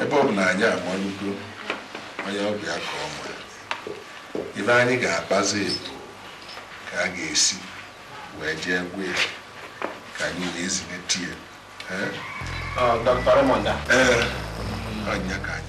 ebe ọ bụ na anyị amalụgo onye ọbịa ka ọ ma ife anyị ga-akpazi bụ ka a ga-esi wee jee gwa ya ka anyị wee zilite ya ee ọ nya ka anyị